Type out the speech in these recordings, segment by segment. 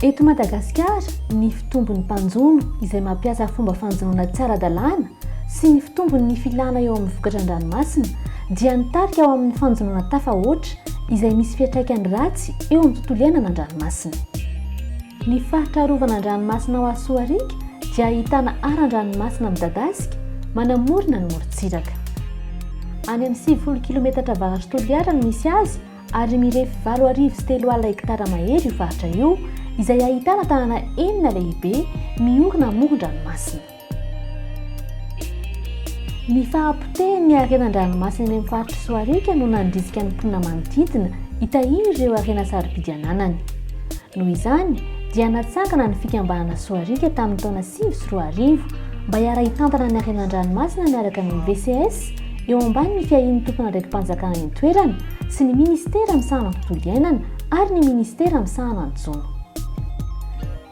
Eto Madagasikara, ny fitombon'ny mpanjono izay mampiasa fomba fanjonoana tsy ara-dalàna sy ny fitombon'ny filana eo amin'ny vokatra an-dranomasina dia nitarika ho amin'ny fanjonoana tafahoatra izay misy fiantraikany ratsy eo amin'ny tontolo iainana an-dranomasina. Ny faritra arovana an-dranomasina ao Asoariaka dia ahitana aran-dranomasina midadasika manamorona ny morontsiraka. Any amin'ny sivifolo kilometatra avaratry Toliara no misy azy ary mirefy valo arivo sy telo alina hektara mahery io faritra io izay ahitana tanàna enina lehibe miorina amoron-dranomasina. Ny fahapotehin'ny harena an-dranomasina eny amin'ny faritr'i Soariaka no nandrisika ny mponina manodidina hitahiry ireo harena sarobidy ananany. Noho izany dia natsangana ny fikambanana Soariaka tamin'ny taona sivy sy roa arivo mba hiara-hitantana ny harena an-dranomasina miaraka amin'ny VCS eo ambanin'ny fiahian'ny tompon'andraiki-panjakana eny an-toerana sy ny minisitera misahana ny tontolo iainana ary ny minisitera misahana ny jono.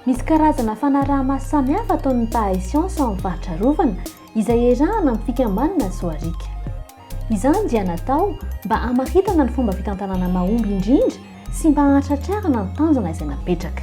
Misy karazana fanaraha-maso samihafa ataon'ny mpahay siansa ao amin'ny faritra arovana izay iarahana amin'ny fikambanana Soariaka. Izany dia natao mba hamaritana ny fomba fitantanana mahomby indrindra sy mba hahatratrarana ny tanjona izay napetraka.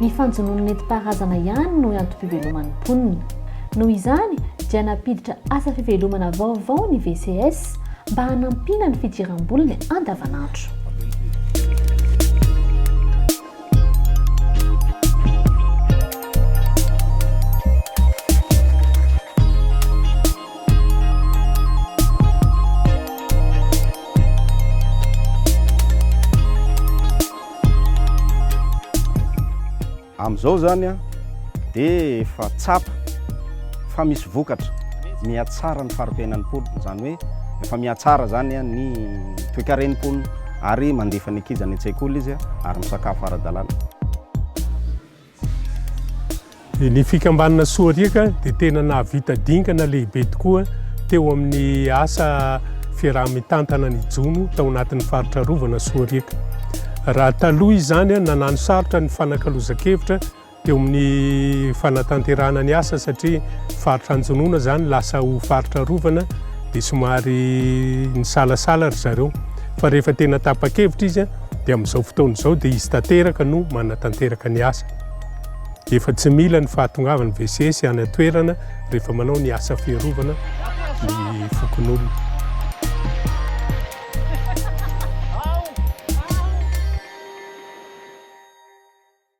Ny fanjonoana nentim-paharazana ihany no antom-piveloman'ny mponina. Noho izany dia nampiditra asa fivelomana vaovao ny VCS mba hanampiana ny fidiram-boliny andavanandro. Amin'izao izany an, dia efa tsapa fa misy vokatra, mihatsara ny fari-piainan'ny mponina, izany hoe efa mihatsara izany an ny toekaren'ny mponina ary mandefa ny ankizy any an-tsekoly izy ary misakafo ara-dalàna. Ny fikambanana Soariaka dia tena nahavita dingana lehibe tokoa teo amin'ny asa fiaraha-mitantana ny jono tao anatin'ny faritra arovana Soariaka. Raha taloha izany nanano sarotra ny fanakalozan-kevitra teo amin'ny fanatanterahana ny asa satria faritra anjonoana izany lasa ho faritra arovana dia somary nisalasala ry zareo fa rehefa tena tapa-kevitra izy dia amin'izao fotoana izao dia izy tanteraka no manatanteraka ny asany. Efa tsy mila ny fahatongavan'ny VCS any an-toerana rehefa manao ny asa fiarovana ny fokonolona.